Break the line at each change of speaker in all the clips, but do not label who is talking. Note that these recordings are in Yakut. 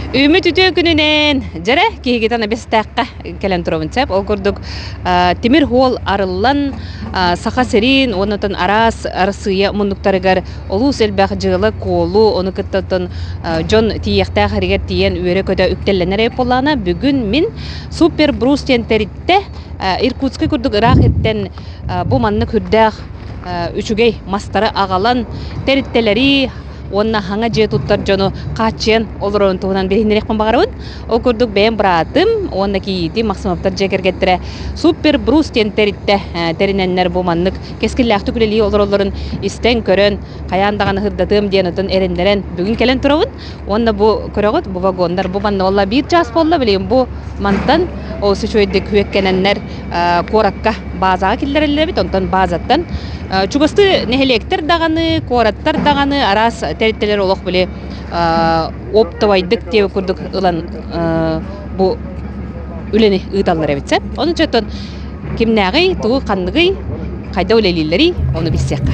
Үүммүт үтүө күнүнэн дьэрэ киһигитэн эбэстээххэ кэлэн турабын сөп. Ол курдук тимир уол арыллан Саха сириин уоннан араас Арассыыйа муннуктарыгар олус элбэх дьыала куолу ону кытта оттон дьон тиийиэхтээх эригэр тиийэн үөрэ-көтө үктэллэнэр эбит буоллаҕына бүгүн мин Супер Брус диэн тэрилтэ Иркутскай курдук ыраах иртэн бу маннык үрдээх үчүгэй мастары аҕалан тэрилтэлэри уонна саҥа дьиэ туттар дьону хааччыйан олорорун туһунан билиһиннэриэхпин баҕарабын. Ол курдук бэйэм быраатым уонна кийиитим Максимовтар дьиэ кэргэттэрэ Супер Брус диэн тэрилтэ тэринэннэр бу маннык кэскиллээхтик үлэлии олороллорун истэн көрөн хайаан даҕаны сырдатыам диэн отон эрэннэрэн бүгүн кэлэн турабын уонна бу көрөҕүт бу вагоннар бу манна буолла биир чаас буолла билигин бу мантан олус үчүгэйдик күөккэнэннэр куоракка баазаҕа киллэрэллэр эбит онтон баазаттан чугастыы нэһилиэктэр даҕаны куораттар даҕаны араас тэрилтэлэр олох били оптовайдык диэн курдук ылан бу үлэни ыыталлар эбит сөп ону чотон кимнээҕий тугу ханныгый хайда үлэлииллэрий ону билсиэххэ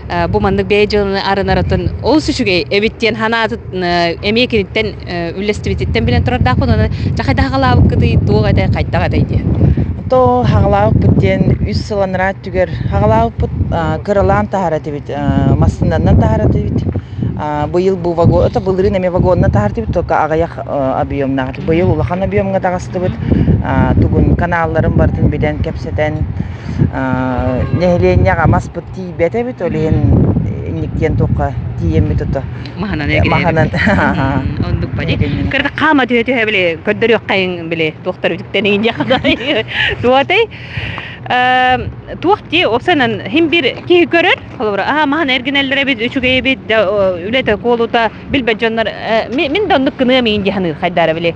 бу маннык бэйэ дьыланы арынаратын олус үчүгэй эбит диэн санаатын эмиэ киниттэн үллэстибититтэн билэн турардаахпын онон дьахайда хаҕалаабыккытый туох этэй хайдах этэй диэн то
хаҕалаабыппыт диэн үс сыланра өттүгэр хаҕалаабыппыт кыралаан таһар этибит массыынанан таһар этибит быйыл бу вагон это былырын эмиэ вагонна таһартыбыт только аҕыйах объемнаах быйыл улахан объемҥа таҕыстыбыт тугун каналларын бартын билэн кэпсэтэн нэһилиэнньэҕэ маспыт тиийбэтэ эбит ол иһин инниктиэн туохха тиийэммит ото маһынан маһынан оннук
бани кырата хаама түһэ түһэ били көрдөрүөххэйин били туохтар үтүктэнигин дьахадай туотай туох ти опсанан хим бир киһи көрөр холобура аха маһан эргинеллер эбит үчүгэй эбит да үлэтэ куолута билбэт дьоннор мин да оннук гыныам иин диханыр хайдара били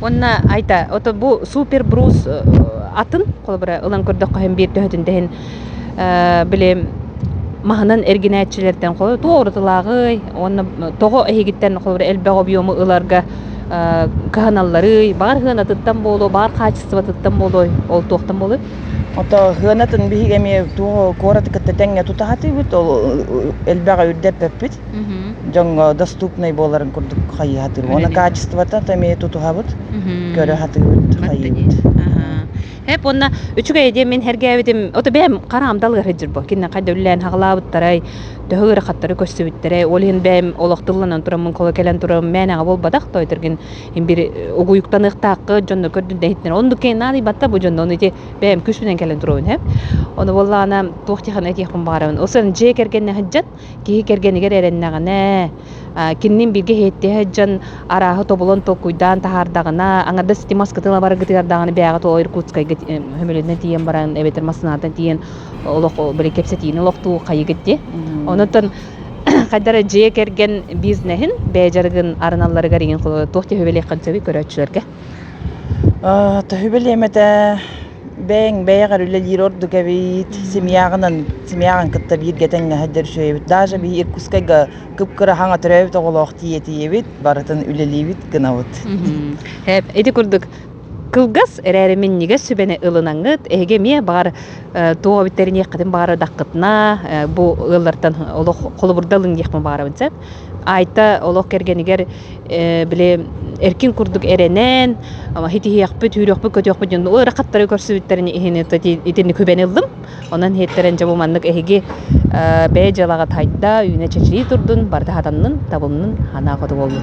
Уонна айта, ото бу супер брус атын, холобура ылан көрдөххө иһин биир төһөтүн тэһин били маһынан эргинээччилэртэн туоҕурутулааҕый уонна тоҕо эһигиттэн холобура элбэх объему ыларга кыһаналларый, баҕар сыанатыттан буолуо, баҕар хаачыстыбатыттан буолуой, ол туохтан буолуой? Ото сыанатын
биһиги эмиэ туох куораты кытта тэҥҥэ тутаһатыыбыт, ол элбэх үрдэппэппит. дьоҥҥо доступнай буоларын курдук хайыы сатыыбыт. Уонна качествота то эмиэ тутуһабыт, көрө сатыыбыт, хайыыбыт.
Эп уонна үчүгэй диэн мин хэргээбитим, ото бэйэм хараам далыары дьырбо. Кинне хайда үллээн хаҕылаабыттарай, төһө ырахаттары көссүбүттэрэй, ол иһин бэйэм олох тылланан тураммын кола кэлэн турам, мээнэҕэ буолбатах тойтыргин имбир угуйуктаныахтаахы дьонно көрдүн дэһиттен. Ондукке нааны батта бу дьонно ити бэйэм күшүнэн кэлэн турабын эп. Ону буоллаана туох тиэхэне тиэхпин баарабын. Осын дьиэ кэргэнне Киһи кэргэнигэр эрэннэҕинэ, кининин бииргэ иһиттиһэ сылдьан арааһы тобулан толкуйдаан таһаардаҕына, аҥардас ити маскытын ала бараргытыгар бэйэҕит о Иркутскайга сөмөлүөтүнэн тиийэн баран эбэтэр массыынаттан тиийэн олох били кэпсэтиини олохтуу хайыгыт дии. Онон хайдара дьиэ кэргэн бизнеһин бэйэ дьарыгын арыналларыгар иҥин туох төһүбэлиэххин сөбүй көрөөччүлэргэ? Төһүбэлиэм
этэ бэйэҥ бэйэҕэр үлэлиир ордук эбит семьяҕынан семьяҕын кытта бииргэ тэҥнэһэрдэр үчүгэйбит даже биһи иркутскайга кып-кыра хаҥа төрөөбүт оҕолоох тиийэтиэбит барытын үлэлиибит гынабыт һээп
ити курдук кылгас эрээри минньигэс сүбэни ылынаҥыт эһиги эмиэ баар туох биттэриниэххитин баара даккытына бу ыаллартан олох холобурда ылыҥ диэхпин баарабын сөп Айта олох кэргэнигэр били эркин курдук эрэнэн итиһиэхпит, үүрүөхпүт, көтүөхпүт дьон ыарахаттары көрсүбүттэрин иһин итинник үбэни ыллым. Онон иһиттэрэн дьэ бу маннык эһиги бэйэ дьыалаҕыт хайда, үүнэ чэчирии турдун, барыта сатаннын, табылынын, хаанаа хоту буоллун.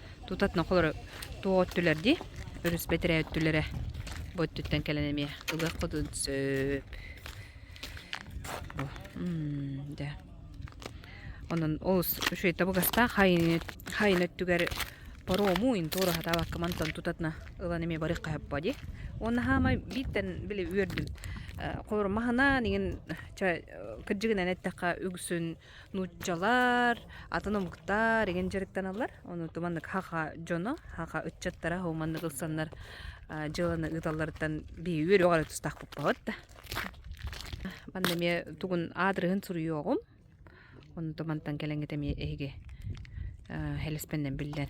Тутат нохолору туо өттүлэр ди, өрүс бэтирэ өттүлэрэ бу өттүттэн кэлэн эмиэ ылыах кодун сөп. дэ. Онон олус үчүгэй табыгастаах хайын өттүгэр порому интуору хатаабаккаман тон тутатна ылан эмиэ барык хаһыппа ди. Уонна хаамай бииттен били үөрдүм. Холорум маһынан игин кырдьыгынан эттэххэ үгсүн Нууччалар атын омуктар игин дьарыктаналар. Ону туманнык хаха дьоно, хаха ыччаттара хоманнык ылсаннар дьыланы ыыталларыттан бии үөрөҕөрө тустаах буппабыт да. Манна эмиэ тугун аадырыһын суруйуоҕум. Ону тумантан кэлэҥҥит эмиэ эһиги хэлэспэннэн биллэн.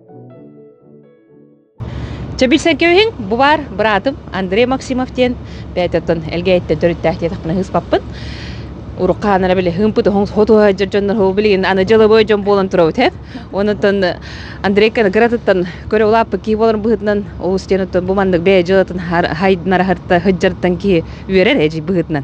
Чэ билсэн кэбиһин, бу баар быраатым Андрей Максимов диэн бэйэтиттэн Элгээйиттэн төрүттээх диэтэхпинэ ыспаппын. Урукка хаанара били хымпыт оһоҥ хоту сылдьар дьоннор ол билигин аны дьылыбой дьон буолан турабыт эт. Онуттан Андрейканы кыратыттан көрө улааппыт киһи болон быһытынан олус диэн оттон бу маннык бэйэ дьылатын хайдынара хартта хыджартан киһи үөрэр эжи быһытынан.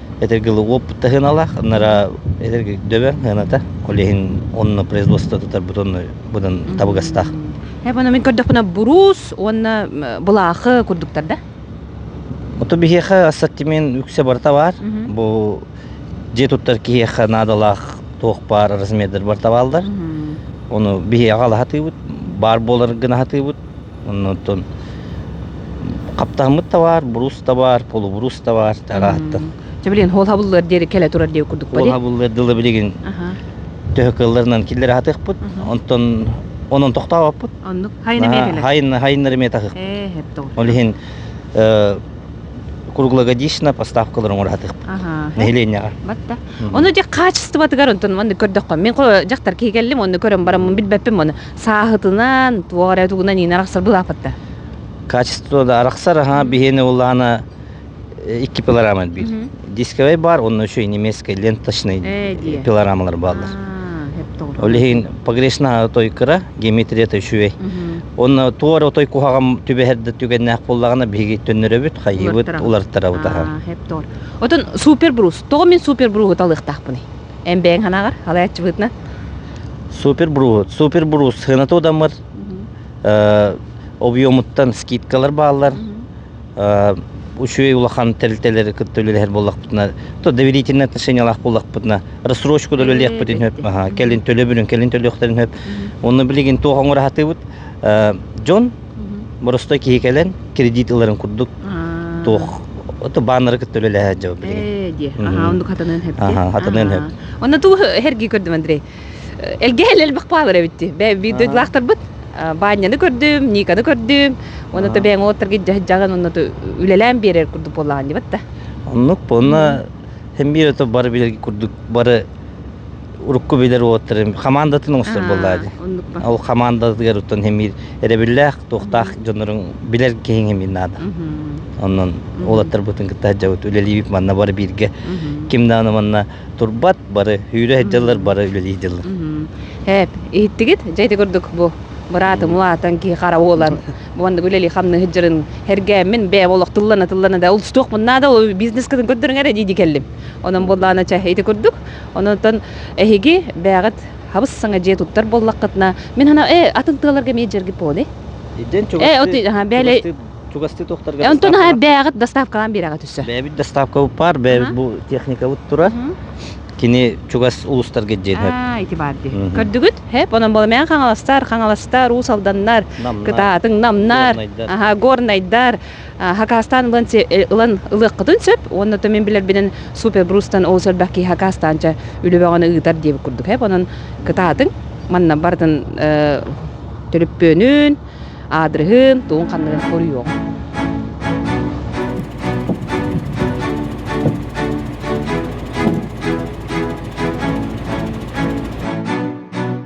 Эдэрги уопут таһыналаах, аннара эдэрги дөбөҥ хыаната, ол иһин онно производство тутарбыт онно будан табыгастаах. Эбана мин
көрдөхпүнэ буруус уонна былаахы курдуктар да? Ото
биһиэхэ ассортимент үксэ барта бар. Бу дьиэ туттар киһиэхэ наадалаах туох баар размердэр барта баалдар. Ону биһиэхэ алаһатыыбыт, баар буолар гына аһатыыбыт. Оннуттан хаптаһыммыт табаар, буруус табаар, полубуруус табаар тарааттан. Чэ билин хуол
хабыллыар диэри кэлэ турар диye курдук Хуол хабыллыар дылы билигин
төһө кылларынан киллер атыахпыт. Онтон онон тохтообаппыт. Оннук хайына
хайына хайыннары ме тахых.
Э, ол иһин круглогодично поставкалар оңоратых. Аха. Нэһилиэнньэҕэ. Батта.
Оны же качествотыгар онтон манны көрдөхкө. Мен дьахтар киһи келлим, оны көрөн бараммын билбеппин оны. сааһытынан, туох эрэ тугунан иинэ арахсар былаапатта. Качество
да арахсар, аха, биһиэне улаана икки пилорама биир. Дисковай бар, онно еще и немецкая ленточный пилорамалар бааллар. Ол иһин погрешна той кыра, геометрията үчүгэй. Онно туор отой куһаҕам түбэһэрде түгэннээх боллаҕына биһиги төннөрөбүт, хайыбыт, улартарабыт аха.
Оттон супер брус, тоҕо мин супер бруху талыахтаахпыный? Эн бэйэҥ ханаҕар алаяччыбытна? Супер
бруус. Супер бруус сыанату дамыр. Объемуттан скидкалар бааллар. Үчүгэй улахан тэрилтэлэр кытта үлэлэһэр буоллахпытына, то доверительный отношениялаах буоллахпытына, рассрочку да үлэлиэхпитин сөп, аха, кэлин төлөбүрүн, кэлин төлүөхтэрин сөп. Онно билигин туох оҥоро сатыыбыт, дьон Боростой киһи кэлэн кредит ыларын курдук туох ото баннеры кытта үлэлэһэ сылдьабын билигин. Ээ диэ. Аха оннук хатаныан
сөп. Аха хатаныан сөп.
Онно тугу эргии
көрдүм Андрей. Элгэ элбэх баалар эбитти. Бэби дойдулаахтарбыт Банняны көрдүм, Никаны көрдүм. Оны то бэйің олоттарга жаһан онно то үлелээн берер курдук боллаан дебатта. Оннук
понна хем биир ото бары билерги курдук бары урукку билэр уолаттарын хамаандатын оҥостор буоллаа дии. Оннукпа. Ол хамаандатыгар оттон хэмиир эрэбиллээх, туохтаах дьоннорун билэр киһиҥ хэмиир наада. Онон уолаттарбытын кытта сылдьабыт үлэлиибит манна бары бииргэ ким даҕаны манна турбат бары үүрэ сылдьаллар бары үлэлии дьыллар. Һээп,
иһиттигит дьэйти курдук бу быраатым улаатан киһи хара буолан уонна үлэлии хамныһыт жырын хэргээммин бэйэм олохтуллана тыллана да устуох муннаада ол бизнескытын көрдөрүҥ эрэ дии кэллим онон буоллаана ча ити курдук Онон эһиги бэҕэт хабыс-саҥа дьиэ туттар буоллаххытына, мин санаам, э, атын тыаларга эмиэ дьэрги поле. Идэн чугасты туохтарга
онтон аха бэҕэт
доставкалаан биэрэҕэ түссө. Бэбит доставкабыт паар,
бэбит бу техникабыт тура. Кини чугас улустарга дьиэтэр. Аа, ити баар дии.
Көрдүгүт? Хэп, онон боломээн хаҥаластар, хаҥаластар, уус алданнар, кытаатың намнар, аха горнайдар, хакаастаан ылан ылан ылыаххытын сөп уонна то мин билэрбинэн супер брустан ол сөрбэх киһи хакаастаанча үлэбэҕэни ыытар диэбит курдук эп онон кытаатыҥ манна барытын төлөппүөнүн аадырыһын тугун ханныгын хоруйуох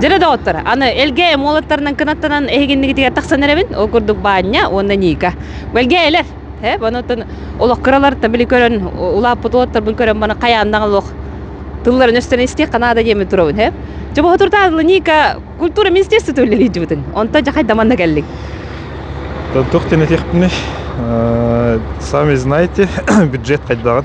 Дьэрэ доҕоттор, аны Элгээйи Эмуолаттарынан кынаттанан эһигиннигитигэр тахсан эрэбин. Ол курдук Баанньа уонна Ника. Элгээйилэр, ээ, баны оттон олох кыраларыттан били көрөн, улааппыт уолаттарбын көрөн баны хайааннаҕа олох тылларын өстөн истиэххэ наада диэмин турабын, ээ. Чобохо туртаатыла Ника культура министерствота үлэлиирдибитин. Онтон дьахай даманна келдик.
Туох тенетехпиний? Сами знаете, бюджет хайдаҕын?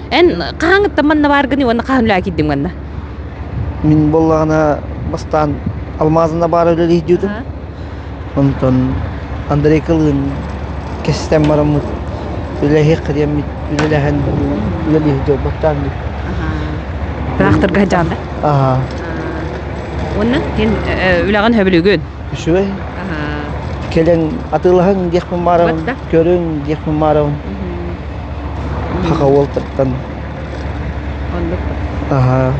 Эн хаһаҥыттан манна бааргыный уонна хаһан үлэҕэ киирдиҥ манна? Мин
буоллаҕына бастаан Алмаазына баара үлэлэһиитин. Онтон Андрей Кылыын кэстэн бараммыт үлэлэһиэх диэммит үлэлэһэн үлэлиир дьорбуттаан дип. Тырахтарга
сылдьаҕында? Аха. Уонна эн үлэҕин сөбүлүгүн? Үчүгэй.
Кэлэн атыылаһыҥ диэхпин баарабын, көрүҥ диэхпин баарабын. Саха уолтартан Оннук да. Аһа.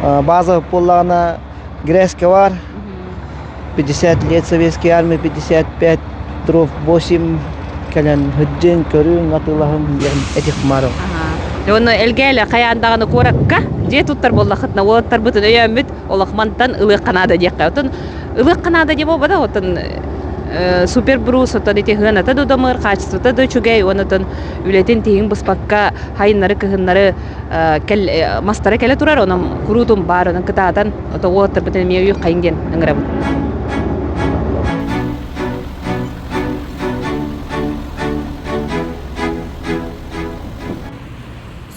А, база буоллаҕына грээска бар 50 лет Советской Армии 55 дров 8 кэлэн һүддүн көрүҥ атылаһын диэн этих марыл. Аха. Онно
элгээли хайаан даҕаны куоракка дьиэ туттар буоллахытына уолаттарбытын өйөөммүт олох мантан ылыахха наада диэххэ отон ылыахха наада дии буолбата отон супер брус отон ити хыаната да удамыр хаачыстыбата да үчүгэй уон отон үлэтин тиһиҥ быспакка хайыннары кыһыннары мастара кэлэ турар онон куруутун баар онон кытаатан ото уоттарбытын эмиэ үйүк хайын диэн ыҥырабын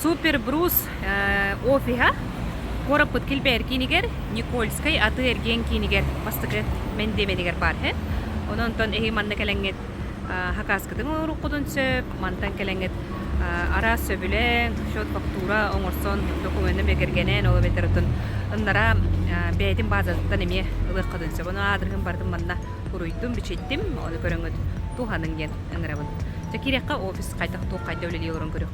Супербрус офиһа куораппыт килбээр киинигэр Никольскай атыы-эргиэн киинигэр бастакы мэндиэмэнигэр баар һэ. Ононтон эһи манна кэлэҥҥит хакааскытын оҥоруккутун сөп, мантан кэлэҥҥит араас сөбүлэҥ, счет фактура оҥорсон докумуонна бигэргэнэн ол эбэтэртэн ыннара бэйэтин баазатыттан эмиэ ылыаххытын сөп. Ону аадырыһын бардым манна уруйдум, бичиттим, ону көрөҥҥүт туһаныҥ диэн ыҥырабын. Дьэ киириэххэ офис хайдах туох хайда үлэлии олорон көрүөх